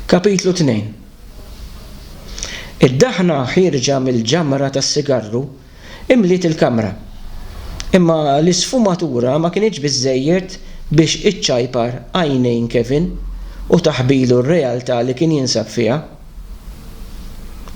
Kapitlu 2 Id-daħna ħierġa mill-ġamra tas-sigarru imliet il-kamra, imma l-isfumatura ma kinitx biżżejjed biex iċċajpar għajnejn Kevin u taħbilu r-realtà li kien jinsab fiha.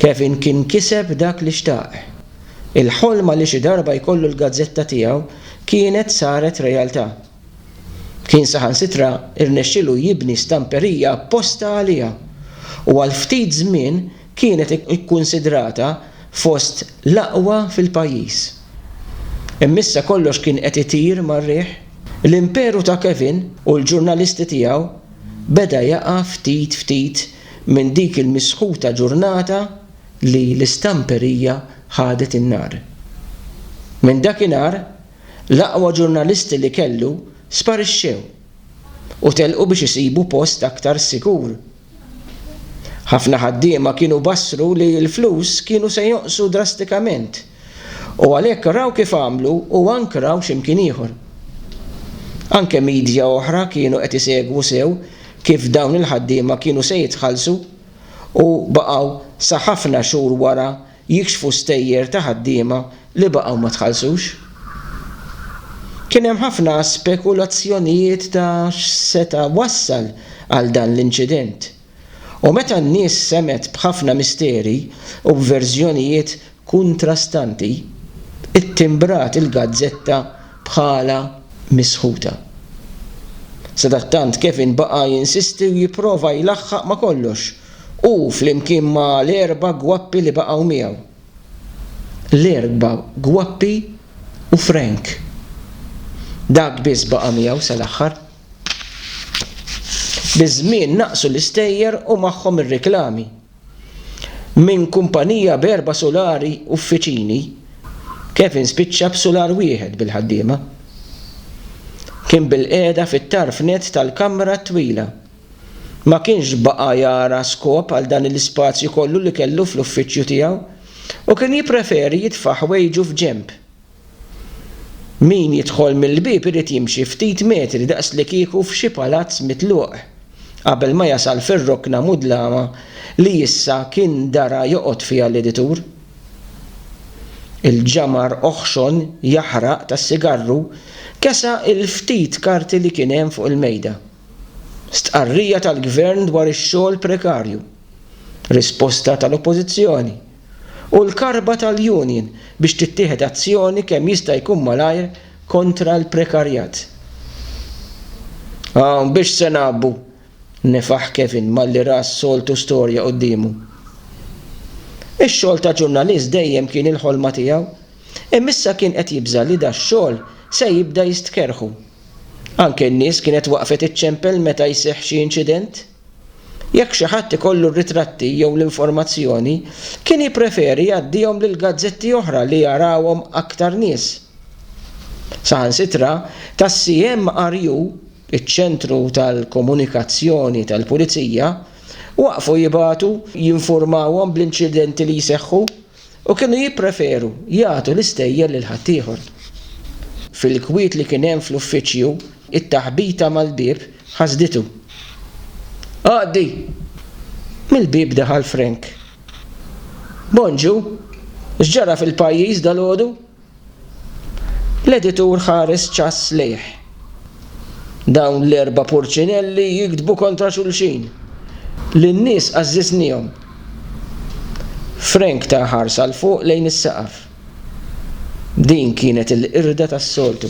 Kevin kien kiseb dak li xtaq. Il-ħolma li xi darba jkollu l-gazzetta tiegħu kienet saret realtà. Kien saħansitra rnexxielu jibni stamperija apposta għaliha u għal ftit żmien kienet ikkunsidrata fost l-aqwa fil-pajjiż. Imma issa kollox kien qed itir mar-riħ. L-imperu ta' Kevin u l-ġurnalisti tiegħu beda jaqa' ftit ftit minn dik il-misħuta ġurnata li l-istamperija ħadet in-nar. Minn dakinhar L-aqwa ġurnalisti li kellu sparixxew u telqu biex isibu post aktar sikur. Ħafna ħaddiema kienu bassru li l-flus kienu se jonqsu drastikament u għalhekk raw kif għamlu u ankraw xi mkien ieħor. Anke midja oħra kienu qed isegwu sew kif dawn il-ħaddiema kienu se jitħallsu u baqgħu sa ħafna xhur wara jikxfu stejjer ta' ħaddiema li baqgħu ma tħallsux. Kien hemm ħafna spekulazzjonijiet ta' x'seta' wassal għal dan l-inċident, u meta n-nies semgħet b'ħafna misteri u b'verżjonijiet kuntrastanti, ittimbrat il-gazzetta bħala misħuta. Sadattant Kevin baqa' jinsisti u jipprova jlaħħaq ma' kollox. Hu flimkien ma' l-erba' gwappi li baqgħu miegħu. L-erba' gwappi u Frank. Dak biss baqa' miegħu sal-aħħar. Biż-żmien naqsu l-istejjer u magħhom ir-riklami. Minn kumpanija b'erba' sulari uffiċini, Kevin spiċċa b'sular wieħed bil-ħaddiema. Kien bilqiegħda fit-tarf nett tal-kamra t-twila. Ma kienx baqa' jara skop għal dan l-ispazju kollu li kellu fl-uffiċċju tiegħu u kien jippreferi jitfa' ħwejġu f'ġenb. Min jidħol mill-bieb irid jimxi ftit metri daqslikieku f'xi palazz mitluq qabel ma jasal fir-rokna mudlama li issa kien dara joqgħod fiha l-editur. Il-ġamar oħxon jaħraq tas-sigarru kesa' il-ftit karti li kien hemm fuq il-mejda. Stqarrija tal-Gvern dwar ix-xogħol prekarju, risposta tal-Oppożizzjoni, u l-karba tal-union biex tittieħed azzjoni kemm jista' jkun malajr kontra l-prekarjat. Hawn biex se ngħabbu! nefaħ Kevin malli ra s-soltu storja quddiemu. Ix-xogħol ta' ġurnalist dejjem kien il-ħolma tiegħu, imma issa kien qed jibża' li dax-xogħol se jibda jistkerrħu. Anke n-nies kienet waqfet iċċempel meta jseħħ xi inċident. Jekk xi ħadd ikollu r-ritratti jew l-informazzjoni, kien jippreferi jgħaddihom lil gazzetti oħra li jarawhom aktar nies. Saħansitra, tas-CMRU, iċ-Ċentru tal-Komunikazzjoni tal-Pulizija, waqfu jibagħtu jinfurmawhom bl-inċidenti li jseħħu. U kienu jippreferu jagħtu l-istejjer lil ħaddieħor. Fil-kwiet li kien hemm fl-uffiċċju, it-taħbita mal-bieb ħasditu. Għaddi! Mill-bieb daħal Frank. Bonġu, x'ġara fil-pajjiż dalgħodu? L-editur ħares ċass lejh. Dawn l-erba' purċinelli jiktbu kontra xulxin. Lin-nies għażżiżnihom. Frank ta ħarsa 'l fuq lejn is-saqaf. Din kienet il-qirda tas-soltu.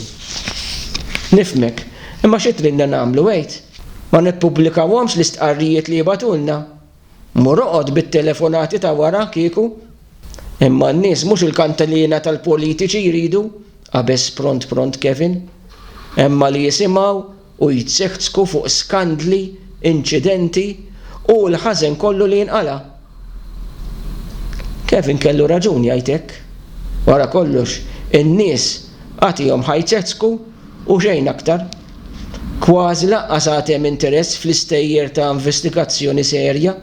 Nifhmek, imma xi tridna nagħmlu għid? Ma nippubblikawhomx l-istqarrijiet li jibgħatulna? Mur oqgħod bit-telefonati ta' wara kieku. Imma n-nies mhux il-kantilina tal-politiċi jridu, qabeż pront pront Kevin. Imma li jisimgħu u jtziħtzku fuq skandli, inċidenti u l-ħażen kollu li jinqala'. Kevin kellu raġun jgħid hekk. Wara kollox, in-nies agħtihom ħajtzeħtzku u xejn aktar. Kważi lanqas għad hemm interess fl-istejjer ta' investigazzjoni serja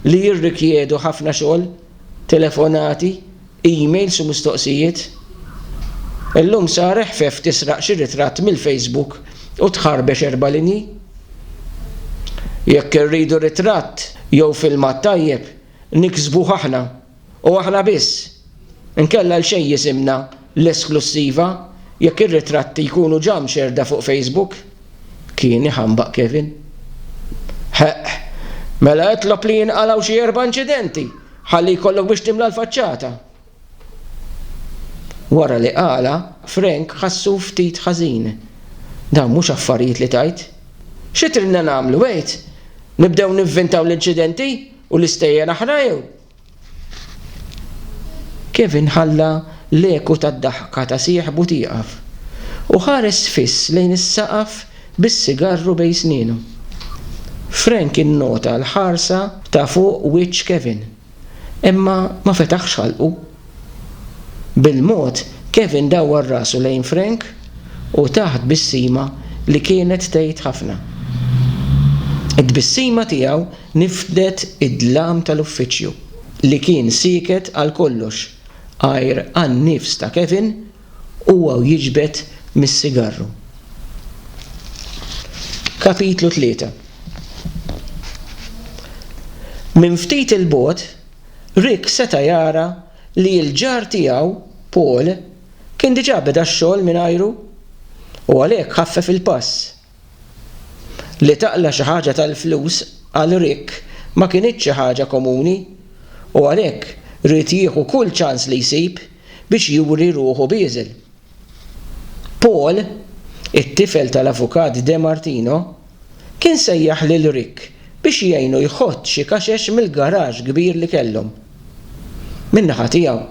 li jirrikjedu ħafna xogħol, telefonati, emails u mistoqsijiet. Illum sar eħfef tisraq xi ritratt mill-Facebook u tħarbex erba' linji. Jekk irridu ritratt jew filmat tajjeb, niksbuh aħna. U aħna biss. Inkella għal xejn jisimna L-Esklussiva jekk ir-ritratti jkunu ġa mxerrda fuq Facebook? kien iħambaq Kevin. Ħeqq. Mela itlob li jinqalgħu xi erba' inċidenti ħalli jkollok biex timla l-faċċata. Wara li qalha, Frank ħassu ftit ħażin. Dawn mhux affarijiet li tgħid. Xi tridna nagħmlu, għid? Nibdew nivvintaw l-inċidenti u l-istejjer aħra jew? Kevin ħalla l-eku tad-daħka ta' sieħbu tieqaf u ħares fiss lejn is-saqaf bis-sigarru bejn snienu. Frank innota l-ħarsa ta' fuq wiċċ Kevin, imma ma fetaħx ħalqu. Bil-mod, Kevin dawwar rasu lejn Frank u ta tbissima li kienet tgħid ħafna. It-tbissima tiegħu nifdet id-dlam tal-uffiċċju, li kien sieket għal kollox għajr għan-nifs ta' Kevin u huwa jiġbed mis-sigarru. Kapitlu Tlieta Minn ftit 'il bogħod, Rick seta' jara li l-ġar tiegħu, Paul, kien diġà beda x-xogħol mingħajru, u għalhekk ħaffef il-pass. Li taqla' xi ħaġa tal-flus għal Rick ma kinitx xi ħaġa komuni, u għalhekk ried jieħu kull ċans li jsib biex juri ruħu bieżel. Paul, it-tifel tal-Avukat DeMartino, Kien sejjaħ lil Rick biex jgħinu jħott xi kaxex mill-garaxx kbir li kellhom. Min-naħa tiegħu,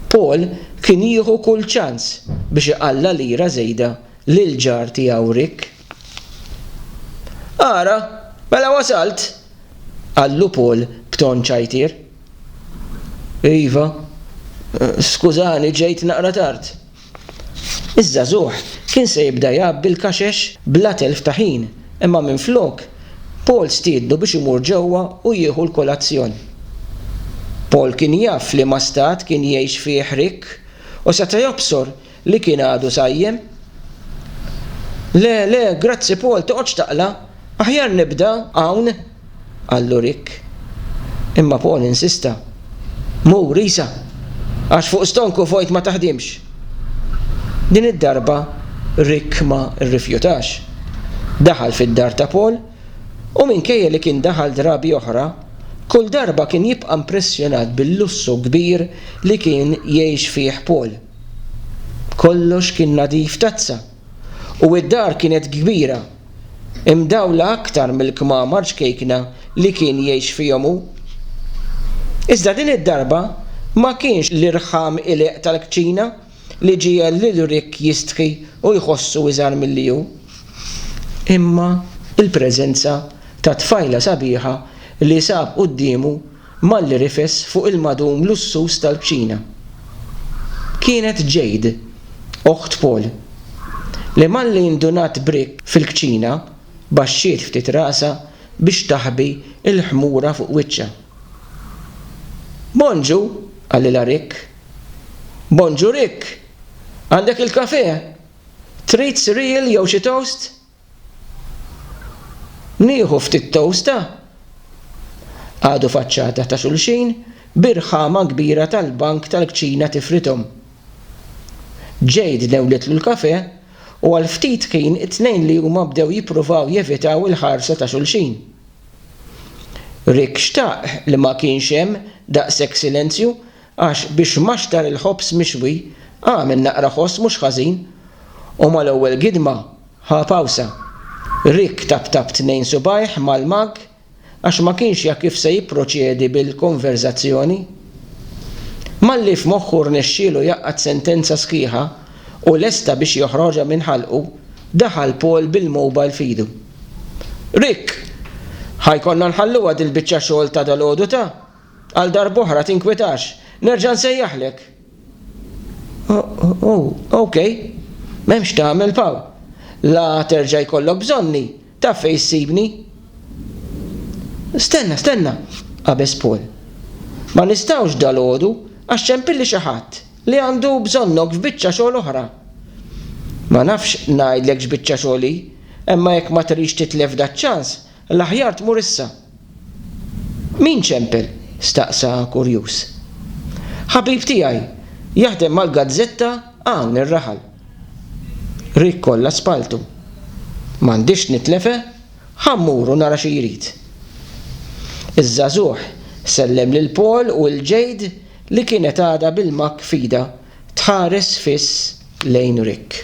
Paul kien jieħu kull ċans biex iqalla' lira żejda lill-ġar tiegħu Rick. Ara, mela wasalt! qallu Paul b'ton ċajtier. Iva, skużani ġejt naqra tard. Iż-żagħżugħ kien se jibda jgħabbi l-kaxex bla telf ta' ħin, imma minflok, Paul stiednu biex imur ġewwa u jieħu l-kolazzjon. Paul kien jaf f'liema stat kien jgħix fih Rick u seta' jobsor li kien għadu sajjem. Le, le, grazzi Paul, toqgħodx taqla', aħjar nibda hawn! qallu Rick. Imma Paul insista, Mur, isa! Għax fuq stonku fojt ma taħdimx! Din id-darba Rick ma rrifjutax. Daħal fid-dar ta' Paul u minkejja li kien daħal drabi oħra, kull darba kien jibqa' mpressjonat bil-lussu kbir li kien jgħix fih Paul. Kollox kien nadif tazza! u d-dar kienet kbira, imdawla aktar mill-kmamar ċkejkna li kien jgħix fihom hu. Iżda din id-darba ma kienx l-irħam qliq tal-kċina li ġiegħel lil Rick jistħi u jħossu iżgħar milli hu, imma l-preżenza ta' tfajla sabiħa li sab quddiemu Malli rifes fuq il-magħdum lussuż tal-bċina. Kienet Jade, oħt Paul, li malli ndunat b'rikk fil-kċina, baxxiet ftit rasha biex taħbi l-ħmura fuq wiċċha. Bonġu! qalilha Rick. Bonġu Rick! Għandek il-kafè? Trid cereal jew xi toast? Nieħu ftit tosta? Qagħdu faċċata ta' xulxin bi rħama kbira tal-bank tal-kċina tifridhom. Jade newlitlu l-kafè u għal ftit ħin it-tnejn li huma bdew jippruvaw jevitaw il-ħarsa ta' xulxin. Rick xtaq li ma kienx hemm daqshekk silenzju Għax biex maxtar il-ħobż mixwi, agħmel naqra ħoss mhux ħażin, u mal-ewwel gidma ħa pawsa. Rick taptap tnejn subgħajh mal-magg għax ma kienx jaf kif se jipproċedi bil-konverżazzjoni. Malli f'moħħu rnexxielu jgħaqqad sentenza sħiħa u lesta biex joħroġha minn ħalqu, daħal Paul bil-mowbajl f'idu. Rick! Ħa jkollna nħalluha dil-biċċa xogħol ta' dalgħodu ta'? Għal darb'oħra, tinkwetax. Nerġa' nsejjaħlek. O, okej. M'hemmx tagħmel, Paw. La terġa' jkollok bżonni, taf fejn issibni. Stenna, stenna, qabeż Paul. Ma nistgħux dalgħodu għax ċempilli xi ħadd li għandu bżonnok f'biċċa xogħol oħra. Ma nafx ngħidlek x'biċċa xogħol hi, imma jekk ma trix titlef daċ-ċans, L-aħjar tmur issa. Min ċempel? staqsa kurjuż. Ħabib tiegħi, jaħdem mal-gazzetta hawn ir-raħal. Rick kollha spalltu. M'għandix nitlefha, ħa mmur u nara xi jrid. Iż-żagħżugħ sellem lil Paul u lil Jade li kienet għadha bil-makk f'idha tħares fiss lejn Rick.